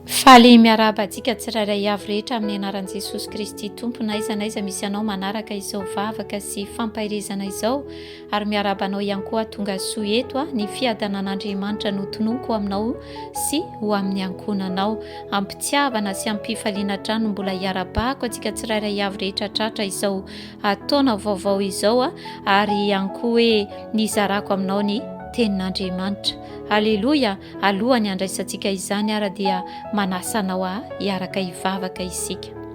Faly miarahaba antsika tsirairay avy rehetra amin'ny anaran'i Jesosy Kristy Tompo na aiza na aiza misy anao manaraka izao vavaka sy fampaherezana izao ary miarahaba anao ihany koa tonga soa eto ah ny fiadanan'Andriamanitra no tononiko aminao sy ho amin'ny ankohonanao ampitiavana sy ampifaliana hatrany mbola hiarabahako antsika tsirairay avy rehetra tratra izao ataona vaovao izao ah ary ihany koa hoe nizarako aminao ny tenin'Andriamanitra Aleloia, alohan'ny handraisantsika izany ara dia manasa anao a hiaraka hivavaka isika.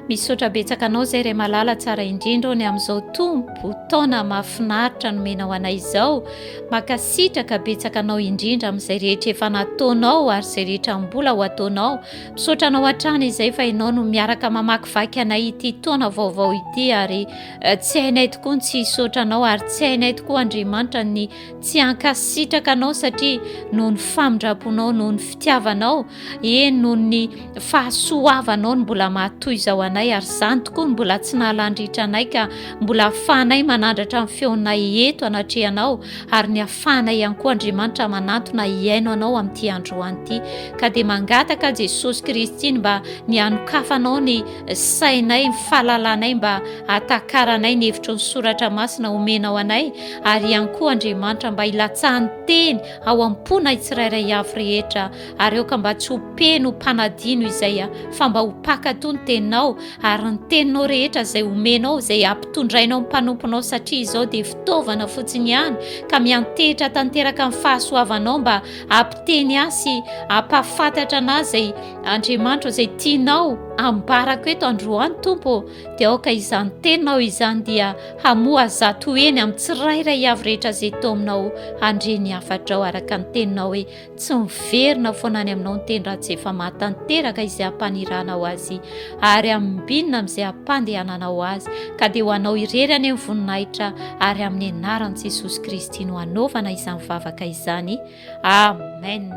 Misaotra betsaka anao zay ray malala tsara indrindra ô ny amin'izao tompo taona mahafinaritra nomenao anay izao makasitraka betsaka anao indrindra amin'izay rehetra efa nataonao ary izay rehetra mbola ho ataonao misaotra anao hatrany izay fa ianao no miaraka mamakivaky anay ity taona vaovao ity ary eh, tsy hainay tokoa ny tsy hisaotra anao ary tsy hainay tokoa andriamanitra ny Tsy hankasitraka anao satria noho ny famindramponao, noho ny fitiavanao, eny noho ny fahasoavanao no mbola mahatoy izao anay ary izany tokoa no mbola tsy nahalandritra anay ka mbola afahanay manandratra ny feonay eto anatrehanao ary ny afahanay ihany koa Andriamanitra manantona hiaino anao amin'ity androany ity ka dia mangataka Jesosy Kristy ny mba ny anokafanao ny sainay, ny fahalalanay mba atakaranay ny hevitry ny soratra masina omenao anay ary ihany koa Andriamanitra mba hilatsahan'ny teny ao am-ponay tsirairay avy rehetra ary aoka mba tsy ho mpeno ho mpanadino izay a fa mba ho mpankatò ny teninao ary ny teninao rehetra izay omenao izay ampitondrainao ny mpanomponao satria izao dia fitaovana fotsiny ihany ka miantehitra tanteraka ny fahasoavanao mba ampiteny ahy sy ampahafantatra anah izay Andriamanitra izay tianao ambarako eto androany tompo dia aoka izany teninao izany dia hamoha zato heny amin'ny tsirairay avy rehetra izay to aminao handre ny hafatrao araka ny teninao hoe tsy miverina foana any aminao ny teny raha tsy efa mahatanteraka izay hampaniranao azy ary amin'binina amin'izay hampandehananao azy ka dia ho anao irery any amin'ny voninahitra ary amin'ny anaran'i jesosy kristy no hanaovana izany vavaka izany Amen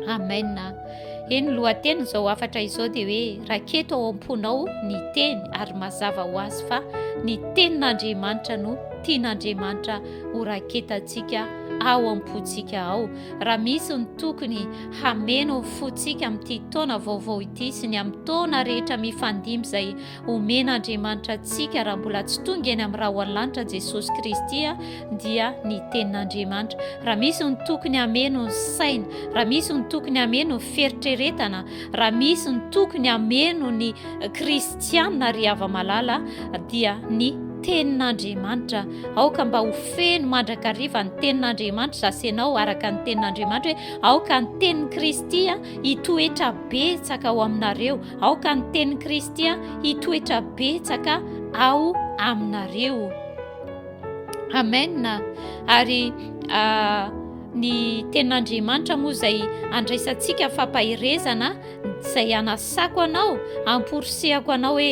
Amen Eny ny lohatenin'izao hafatra izao dia hoe raketo ao am-ponao ny teny ary mazava ho azy fa ny tenin'Andriamanitra no tian'Andriamanitra ho raketantsika ao am-pontsika ao raha misy ny tokony hameno ny fontsika amin'ity taona vaovao ity sy ny amin'ny taona rehetra mifandimby izay Omena Andriamanitra antsika raha mbola tsy tonga eny amin'ny rahona lanitra Jesosy Kristy dia ny tenin'Andriamanitra. Raha misy ny tokony hameno ny saina, raha misy ny tokony hameno ny feritreretana, raha misy ny tokony hameno ny kristianina ry hava-malala dia ny tenin'Andriamanitra. Aoka mba ho feno mandrakariva ny tenin'Andriamanitra zasenao araka ny tenin'Andriamanitra hoe aoka ny tenin'i Kristy hitoetra betsaka ao aminareo. Aoka ny tenin'i Kristy hitoetra betsaka ao aminareo. Amen. Ary ah, ny tenin'Andriamanitra moa izay andraisantsika fampaherezana izay anasako anao, amporisihako anao hoe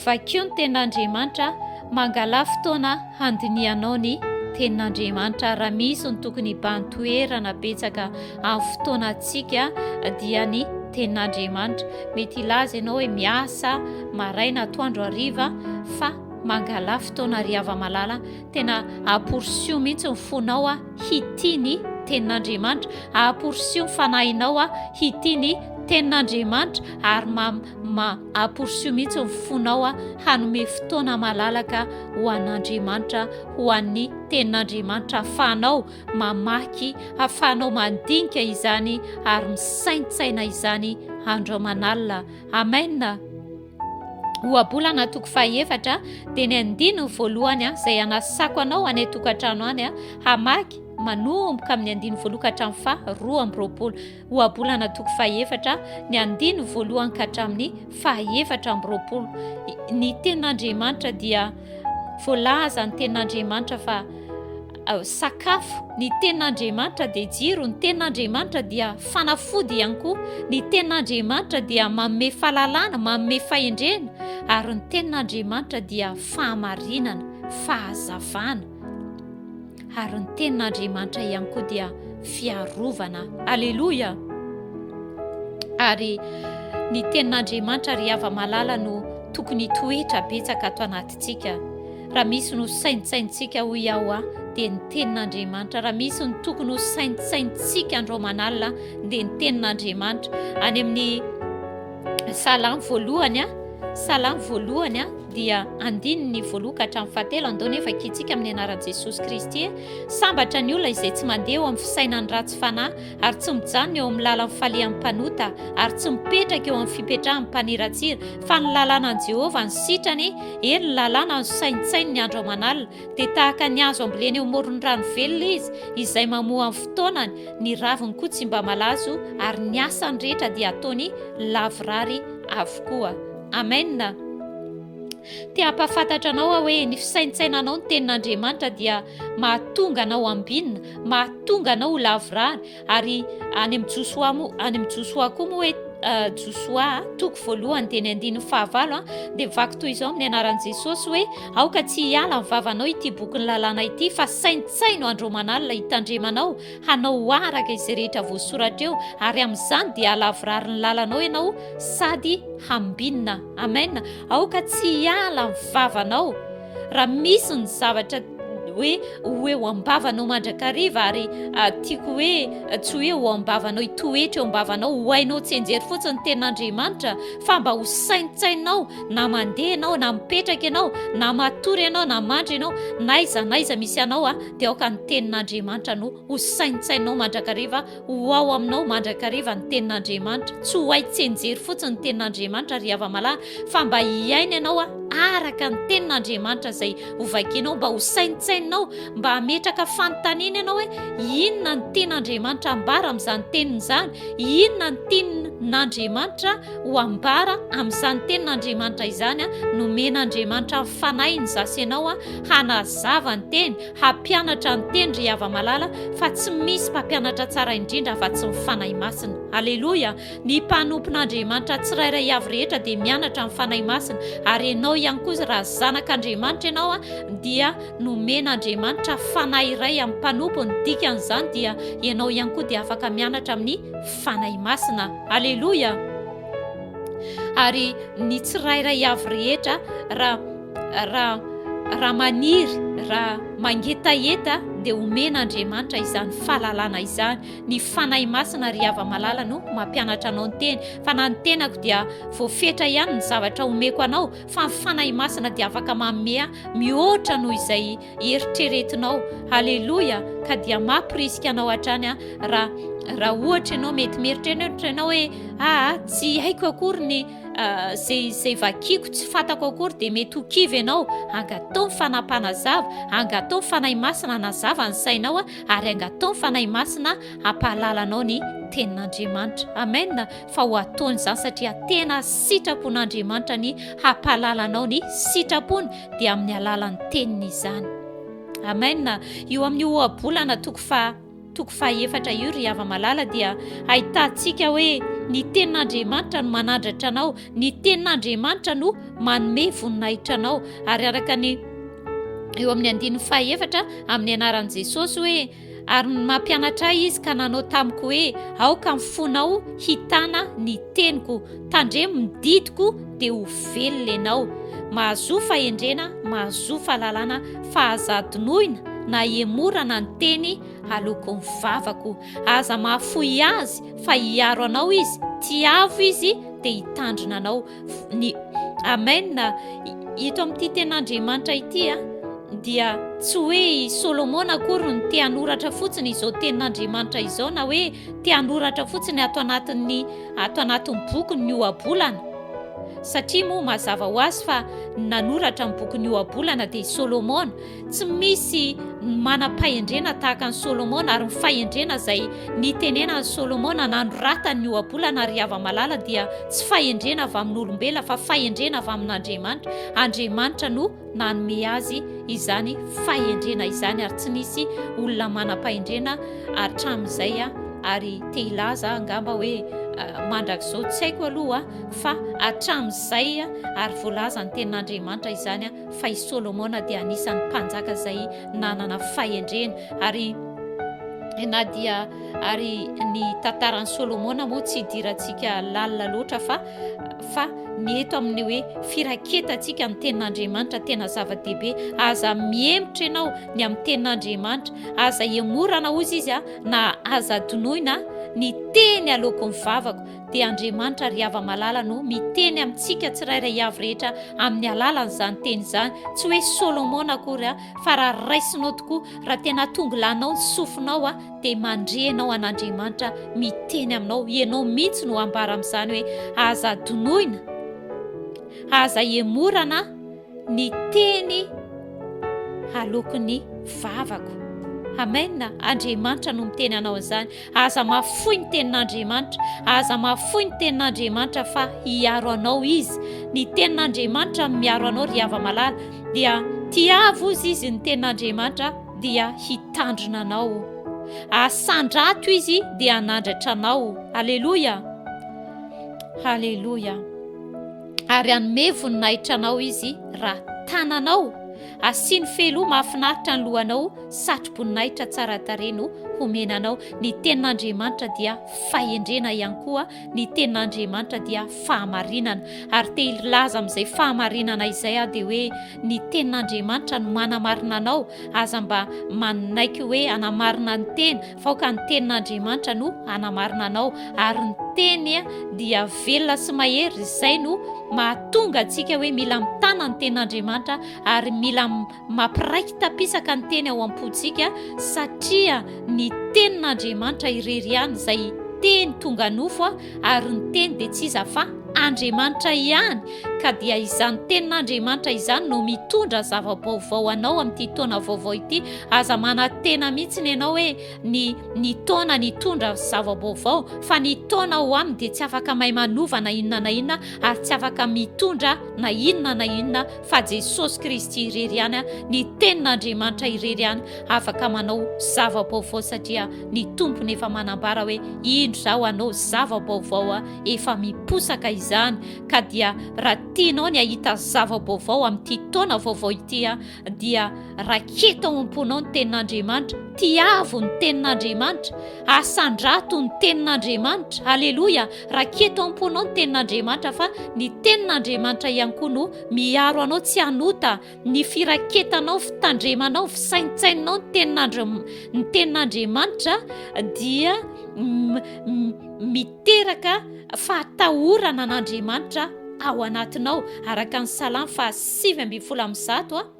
vakio ny tenin'Andriamanitra, mangalà fotoana handinihanao ny tenin'Andriamanitra raha misy ny tokony hibahan-toerana betsaka Amin'ny fotoanantsika dia ny tenin'Andriamanitra. Mety hilaza ianao hoe miasa maraina, atoandro, hariva fa mangalà fotoana ry hava-malala, tena aporisiho mihitsy ny fonao hitia ny tenin'Andriamanitra, aporisiho ny fanahinao hitia ny tenin'Andriamanitra ary ma, ma aporisiho mihitsy ny fonao hanome fotoana malalaka ho an'Andriamanitra, ho an'ny tenin'Andriamanitra afahanao mamaky, hafahanao mandinika izany ary misaintsaina izany andro aman'alina. Amen. Ohabolana toko fahefatra dia ny andininy voalohany izay hanasako anao any an-tokantrano any hamaky manomboka amin'ny andininy voalohany ka hatramin'ny faha roa amby roapolo. Ohabolana toko fahefatra ny andiny voalohany ka hatramin'ny fahefatra amby roapolo. Ny tenin'Andriamanitra dia voalaza ny tenin'Andriamanitra fa sakafo, ny tenin'Andriamanitra dia jiro, ny tenin'Andriamanitra dia fanafody ihany koa, ny tenin'Andriamanitra dia manome fahalalana, manome fahendrena, ary ny tenin'Andriamanitra dia fahamarinana, fahazavana. ary ny tenin'Andriamanitra ihany koa dia fiarovana. Aleloia! Ary ny tenin'Andriamanitra ry hava malala no tokony toetra betsaka ato anatintsika. Raha misy no saintsaintsika ho iaho aho dia ny tenin'Andriamanitra. Raha misy ny tokony ho saintsaintsika andro aman'alina dia ny tenin'Andriamanitra. Any amin'ny salamo voalohany, salamo voalohany, dia andininy voaloha ka hatramin'ny fahatelo andao nefa akintsika amin'ny anaran'i Jesosy Kristy e! sambatra ny olona izay tsy mandeha eo amin'ny fisainan'ny ratsy fanahy ary tsy mijanona eo amin'ny lalan'ny falehan'ny mpanota ary tsy mipetraka eo amin'ny fipetrahan'ny mpaniratsira fa ny lalanan'i Jehovah ny sitrany eny ny lalana no saintsainy ny andro aman'alina dia tahaka ny azo ambolena eo amoron'ny rano velona izy izay mamoa amin'ny fotoanany ny raviny koa tsy mba malazo ary ny asany rehetra dia ataony lavorary avokoa Amen! Te hampahafantatra anao aho hoe ny fisaintsainanao ny tenin'Andriamanitra dia mahatonga anao ambinina, mahatonga anao ho lavorary ary any amin'ny Josoa moa, any amin'ny Josoa koa moa hoe uh, Josoa toko voalohany dia ny andininy fahavalo a, dia vaky toy izao amin'ny anaran'i Jesosy hoe aoka tsy hiala ny vavanao ity bokin'ny lalàna ity fa saintsaino andro aman'alina hitandremanao hanao araka izay rehetra voasoratra eo ary amin'izany dia halavorary ny lalanao ianao sady hambinina amen aoka tsy hiala ny vavanao raha misy ny zavatra hoe ho eo ambavanao mandrakariva ary ah, tiako hoe ah, tsy hoe ho ambavanao hitoetra eo ambavanao ho hainao tsy enjery fotsiny ny ten'andriamanitra fa mba ho saintsainao na mandeha ianao na mipetraka ianao na matory ianao na mandry ianao na iza na iza misy anao a ah. dia aoka ny tenin'Andriamanitra no ho saintsainao mandrakariva, ho ao aminao mandrakariva ny tenin'Andriamanitra. Tsy ho hay tsenjery fotsiny ny tenin'Andriamanitra ry hava-malahy fa mba hiaina ianao araka ny tenin'Andriamanitra izay hovakinao, mba ho saintsaininao, mba hametraka fanontaniana ianao hoe inona ny tian'Andriamanitra ambara amin'izany teniny izany, inona ny tian'Andriamanitra ho ambara amin'izany tenin'Andriamanitra izany, nomen'Andriamanitra ny fanahiny za sy ianao. hanazava ny teny, hampianatra ny teny ry hava-malala fa tsy misy mpampianatra tsara indrindra afa-tsy ny Fanahy Masina. Aleloia! Ny mpanompon'Andriamanitra tsirairay avy rehetra dia mianatra amin'ny Fanahy Masina ary ianao ihany koa raha zanak'Andriamanitra ianao dia nomen'Andriamanitra Fanahy iray amin'ny mpanompo, ny dikan'izany dia ianao ihany koa dia afaka mianatra amin'ny Fanahy Masina. Aleloia! Ary ny tsirairay avy rehetra raha Raha, raha maniry, raha mangetaheta dia omen'Andriamanitra izany fahalalana izany. Ny Fanahy Masina ry hava-malala no mampianatra anao ny teny. Fa na ny tenako dia voafetra ihany ny zavatra omeko anao, fa ny Fanahy Masina dia afaka manome mihoatra noho izay eritreretinao. Haleloia! Ka dia mampirisika anao hatrany aho, raha, raha ohatra ianao mety mieritreritra ianao hoe, Aa, tsy haiko akory ny Izay vakiako tsy fatako akory dia mety ho kivy ianao, angataho ny Fanahy Mpanazava, angataho ny Fanahy Masina hanazava ny sainao ary angataho ny Fanahy Masina hampahalala anao ny Tenin'Andriamanitra. Amen. Fa ho ataony izany satria tena sitrapon'Andriamanitra ny hampahalala anao ny sitrapony dia amin'ny alalan'ny Teniny izany. Amen. Io amin'ny ohabolana toko fa toko fahaefatra io ry hava-malala dia hahitantsika hoe ny tenin'Andriamanitra no manadratra anao, ny tenin'Andriamanitra no manome voninahitra anao. Ary araka ny eo amin'ny andininy fahaefatra amin'ny anaran'i Jesosy hoe ary mampianatra ahy izy ka nanao tamiko hoe aoka ny fonao hitana ny teniko Tandremo ny didiko dia ho velona ianao. Mahazoa fahendrena, mahazoa fahalalana, fa aza adinoina na ihemorana ny teny aloako ny vavako. Aza mahafoy azy fa hiaro anao izy, tiavo izy dia hitandrina anao. Ny Amen. Ito amin'ity tenin'Andriamanitra ity a dia tsy hoe i Solomona akory no te hanoratra fotsiny izao tenin'Andriamanitra izao na hoe te hanoratra fotsiny ato anatin'ny ato anatin'ny boky ny ohabolana satria moa mazava ho azy fa ny nanoratra ny boky ny ohabolana dia i solomona tsy misy ny manam-pahendrena tahaka ny solomona ary ny fahendrena izay nitenena ny solomona nanoratany ny ohabolana ary hava malala dia tsy fahendrena avy amin'olombelona fa fahendrena avy amin'andriamanitra andriamanitra no nanome azy izany fahendrena izany ary tsy nisy olona manam-pahendrena hatramin'izay ary te hilaza angamba hoe mandrakizao tsy haiko aloha fa hatramin'izay ary voalaza ny tenin'Andriamanitra izany fa i Solomona dia anisan'ny mpanjaka izay nanana fahendrena ary na dia ary ny tantaran'i Solomona moa tsy idirantsika lalina loatra fa fa ny eto amin'ny hoe firaketantsika ny tenin'Andriamanitra tena zava-dehibe, aza mihemotra ianao ny amin'ny tenin'Andriamanitra, aza ihemorana hozy izy a, na aza adinoina ny teny aleoko ny vavako, dia Andriamanitra ry hava-malala no miteny amintsika tsirairay avy rehetra amin'ny alalan'izany teny izany, tsy hoe Solomona akory a, fa raha raisinao tokoa, raha tena atongilanao ny sofinao a, dia mandre ianao an'Andriamanitra miteny aminao, ianao mihitsy no ambara amin'izany hoe aza adinoina, aza emorana ny teny aloky ny vavako. Amen, Andriamanitra no miteny anao izany. Aza mafoy ny tenin'Andriamanitra, aza mafoy ny tenin'Andriamanitra fa hiaro anao izy. Ny tenin'Andriamanitra miaro anao ry hava-malala, dia tiavo izy izy ny tenin'Andriamanitra. dia hitandrina anao. Asandrato izy dia hanandratra anao. Aleloia! Aleloia! Ary hanome voninahitra anao izy raha tananao asiany fehiloha mahafinaritra ny lohanao, satro-boninahitra tsara tarehy no homena anao. Ny tenin'Andriamanitra dia fahendrena ihany koa Ny tenin'Andriamanitra dia fahamarinana, ary te hilaza amin'izay fahamarinana izay aho dia hoe ny tenin'Andriamanitra no manamarina anao, aza mba manaiky hoe hanamarina ny tena fa aoka ny tenin'Andriamanitra no hanamarina anao, ary ny teny dia velona sy mahery, izay no mahatonga antsika hoe mila mitana ny tenin'Andriamanitra ary mila Mampiraiki-tapisaka ny teny ao am-pontsika satria ny tenin'Andriamanitra irery ihany izay teny tonga nofo ary ny teny dia tsy iza fa Andriamanitra ihany ka dia izany tenin'Andriamanitra izany no mitondra zava-baovao anao amin'ity taona vaovao ity. Aza manatena mihitsy ny ianao hoe ny ny taona nitondra zava-baovao fa ny taona ho aminy dia tsy afaka may manova na inona na inona ary tsy afaka mitondra na inona na inona fa Jesosy Kristy irery ihany ny tenin'Andriamanitra irery ihany afaka manao zava-baovao satria ny tompony efa manambara hoe indro zaho anao zava-baovao efa miposaka izany ka dia raha tianao ny ahita zava-baovao amin'ity taona vaovao ity dia raketo ao am-ponao ny tenin'Andriamanitra tiavo ny tenin'Andriamanitra asandrato ny tenin'Andriamanitra aleloia Raketo am-ponao ny tenin'Andriamanitra fa ny tenin'Andriamanitra ihany koa no miaro anao tsy hanota ny firaketanao, fitandremanao, fisaintsaininao ny tenin'Andriam- ny tenin'Andriamanitra dia m- m- miteraka fahatahorana an'Andriamanitra ao anatinao araka ny Salamo fahasivy ambin'ny folo amin'ny zato a.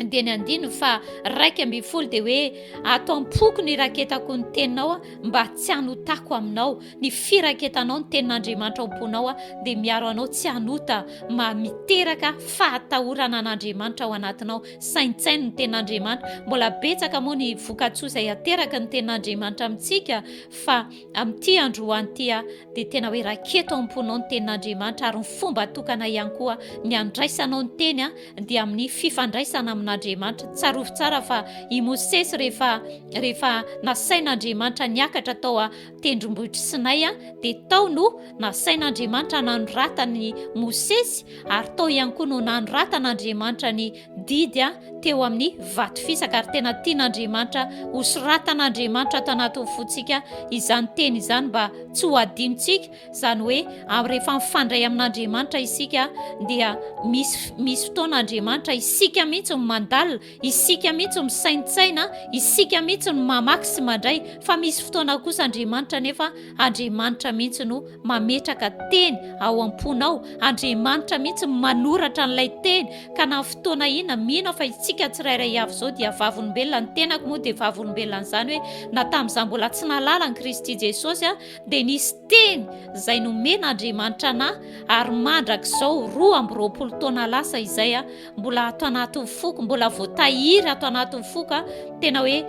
dia ny andino fa raika ambin'ny folo dia hoe ato am-poko ny raketako ny teninao a mba tsy hanotako aminao ny firaketanao ny tenin'andriamanitra am-ponao a dia miaro anao tsy hanota ma miteraka fahatahorana an'andriamanitra ao anatinao saintsaino ny tenin'andriamanitra mbola betsaka moa ny vokatsoa izay ateraka ny tenin'andriamanitra amintsika fa Amin'ity androany ity dia tena hoe raketo ao am-ponao ny tenin'Andriamanitra ary ny fomba tokana ihany koa ny handraisanao ny teny dia amin'ny fifandraisana amin'Andriamanitra. Tsarovy tsara fa i Mosesy rehefa rehefa nasain'Andriamanitra niakatra tao an-tendrombohitr'i Sinay dia tao no nasain'Andriamanitra nanoratany Mosesy ary tao ihany koa no nanoratan'Andriamanitra ny didy teo amin'ny vato fisaka ary tena tian'Andriamanitra ho soratan'Andriamanitra ato anatin'ny fontsika izany teny izany mba tsy ho adinontsika izany hoe amin'ny rehefa mifandray amin'Andriamanitra isika dia misy misy fotoana Andriamanitra isika mihitsy ny mandalina isika mihitsy misaintsaina isika mihitsy ny mamaky sy mandray fa misy fotoana kosa Andriamanitra nefa Andriamanitra mihitsy no mametraka teny ao am-ponao. Andriamanitra mihitsy no manoratra an'ilay teny. Ka na fotoana inona, mino aho fa isika tsirairay avy izao dia vavolombelona. Ny tenako moa dia vavolombelona an'izany hoe na tamin'izaho mbola tsy nahalala an'i Kristy Jesosy dia nisy teny izay nomen'Andriamanitra an'ahy ary mandrak'izao roa amby roapolo taona lasa izay mbola ato anatin'ny foko, mbola voatahiry ato anatin'ny foko. Tena hoe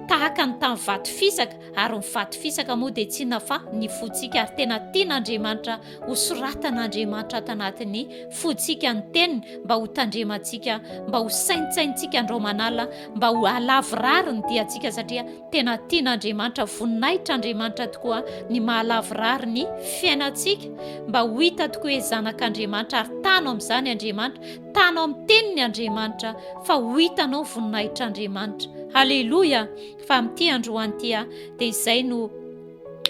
tahaka ny tamin'ny vato fisaka. Ary ny faty fisaka moa dia tsy inona fa ny fontsika ary tena tian'Andriamanitra ho soratan'Andriamanitra ato anatin'ny fontsika ny teniny mba ho tandremantsika, mba ho saintsainintsika andraomanala, mba ho alavorary ny diantsika satria tena tian'Andriamanitra, voninahitra Andriamanitra tokoa ny mahalavorary ny fiainantsika mba ho hita tokoa hoe zanak'Andriamanitra ary tano amin'izany Andriamanitra, tano amin'ny teniny Andriamanitra fa ho hitanao voninahitr'Andriamanitra. Haleloia! Fa amin'ity androany ity aho, dia izay no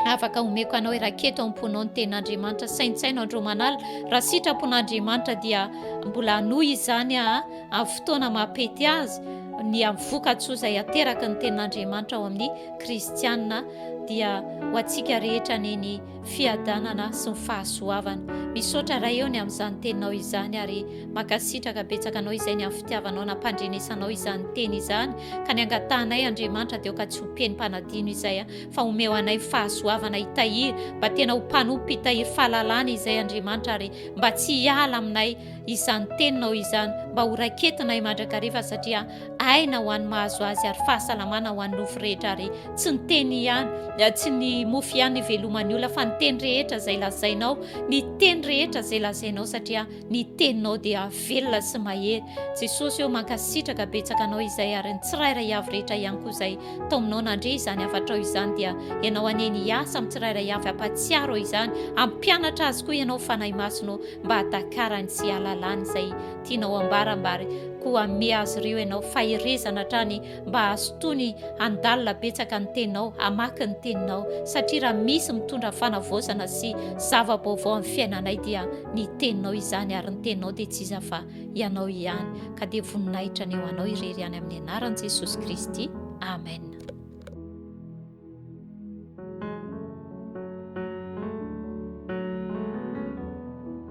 afaka omeko anao i raketo am-ponao ny tenin'Andriamanitra. Saintsaino andro manala, raha sitrapon'Andriamanitra dia mbola hanohy izany aho amin'ny fotoana maha-pety azy, ny amin'ny vokatsoa izay ateraky ny tenin'Andriamanitra ao amin'ny kristiana, dia ho antsika rehetra anie ny fiadanana sy ny fahasoavana. Misaotra Ray eo ny amin'izany teninao izany ary makasitraka betsaka anao izay ny amin'ny fitiavanao nampandrenesanao izany teny izany ka ny angatahanay Andriamanitra deo ka tsy ho peny mpanadino izay fa omeo anay fahasoavana hitahiry mba tena ho mpanompo mpitahiry fahalalana izay Andriamanitra ary mba tsy hiala aminay izany teninao izany mba ho raiketinay mandrakariva satria Aina ho an'ny mahazo azy ary fahasalamana ho an'ny nofo rehetra ary tsy ny teny ihany, tsy ny mofo ihany iveloman'ny olona fa ny teny rehetra izay lazainao, ny teny rehetra izay lazainao satria ny teninao dia velona sy mahery. Jesosy ô mankasitraka betsaka anao izay ary ny tsirairay avy rehetra ihany koa izay tao aminao nandre izany hafatrao izany dia ianao anie ny hiasa amin'ny tsirairay avy ampatsiaro izany ampianatra azy koa ianao Fanahy Masina ô mba hatakarany sy halalany izay Tianao ambara mba ary koa hanome azy ireo ianao faherezana hatrany mba hahazotoany handalina betsaka ny teninao, hamaky ny teninao, satria raha misy mitondra fanavaozana sy zava-baovao amin'ny fiainanay dia ny teninao izany ary ny teninao dia tsy iza fa ianao ihany ka dia voninahitra ny ho anao irery ihany amin'ny anaran'i Jesosy Kristy, Amen.